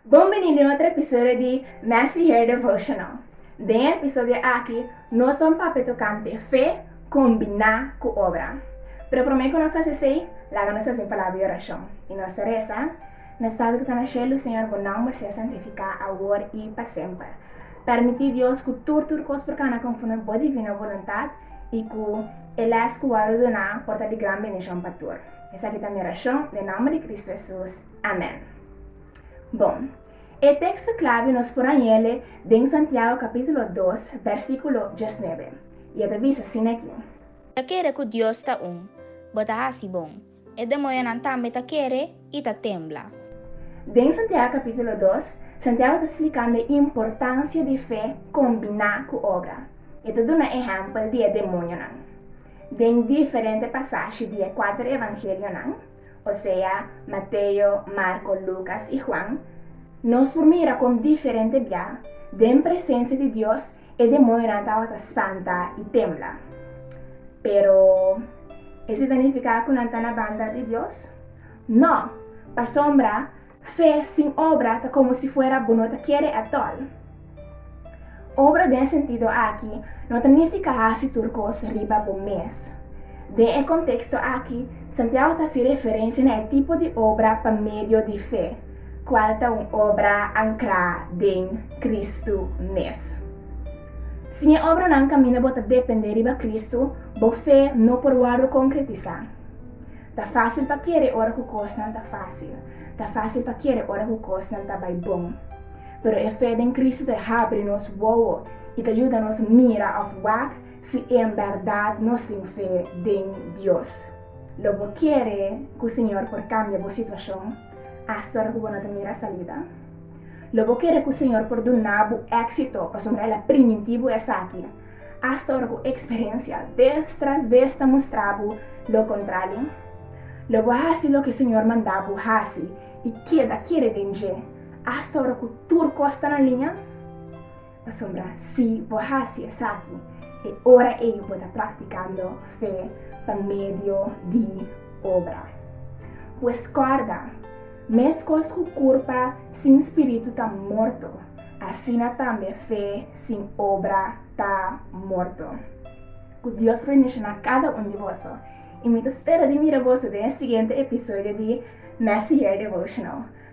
Bon bini den otro episodio di Messy Hair Devotional. Den e episodio aki, nos ban papia tokante fe kombiná ku obra. Pero promé ku nos hasi esei, laga nos hasi un palabra di orashon, i nos ta resa, Nos Tata ku ta na shelu, Señor, Bo nòmber sea santifiká awor i pa semper. Pèrmití, Dios, ku tur tur kos por kana konforme Bo divino boluntat, i ku e lès ku wòrdu duná por ta di gran bendishon pa tur. Esaki ta mi orashon, den nòmber di Kristu Hesus, amèn. Bon, e teksto klabe nos por a yele den Santiago kapítulo dos, bèrsikulo diesnuebe, i e ta bisa sin aki. Ta kere ku Dios ta un. Bo ta hasi bon. E demoyonan tambe ta kere i ta tembla. Den Santiago kapítulo dos, Santiago ta spliká nan e importansia di fe kombiná ku obra. E ta duna ehèmpel di e demoyonan. Den diferente pasashi di e kuater evangelionan, osea, Mateo, Marko, Lukas i Huan, nos por mira kon diferente bia, den presensia di Dios, E demonionan tabata spanta i tembla. Pero esei ta nifiká ku nan ta na banda di Dios? Nò! Pasobra fe sin obra ta komo si fuera bo no ta kere atòl. Obra den e sentido akí no ta nifiká hasi tur kos riba bo mes. Den e konteksto akí, Santiago ta hasi referensia na e tipo di obra pa medio di fe. Cual ta un obra ancrá den Cristo mes? Si e obranan caminda bo ta dependé riba Cristo, bo fe no por wòrdu concretisá. Ta fácil pa kere ora cu cosnan ta fácil. Ta fácil pa kere ora cu cosnan ta bai bon. Pero e fe den Cristo ta habri nos wowo i ta yuda nos mira of wak si en berdad nos tin fe den Dios. Lo bo kere cu Señor por cambia bo situacion? Asta ora ku bo no ta mira salida? Lo bo kere ku Señor por duna bo éksito pasobra El a primintí bo esaki, asta ora ku eksperensia bes tras bes ta mustra bo lo kontrali? Lo bo hasi loke Señor manda bo hasi i keda kere den dje, asta ora ku tur kos ta na liña? Pasobra si bo hasi esaki, e ora ei bo ta praktikando fe pa medio di obra. Pues kòrda, meskos ku kurpa sin spiritu ta morto, asina tambe fe sin obra ta morto. Ku Dios por bendisioná kada un di boso, i mi ta spera di mira boso den e siguiente episodio di Messihear Devotional.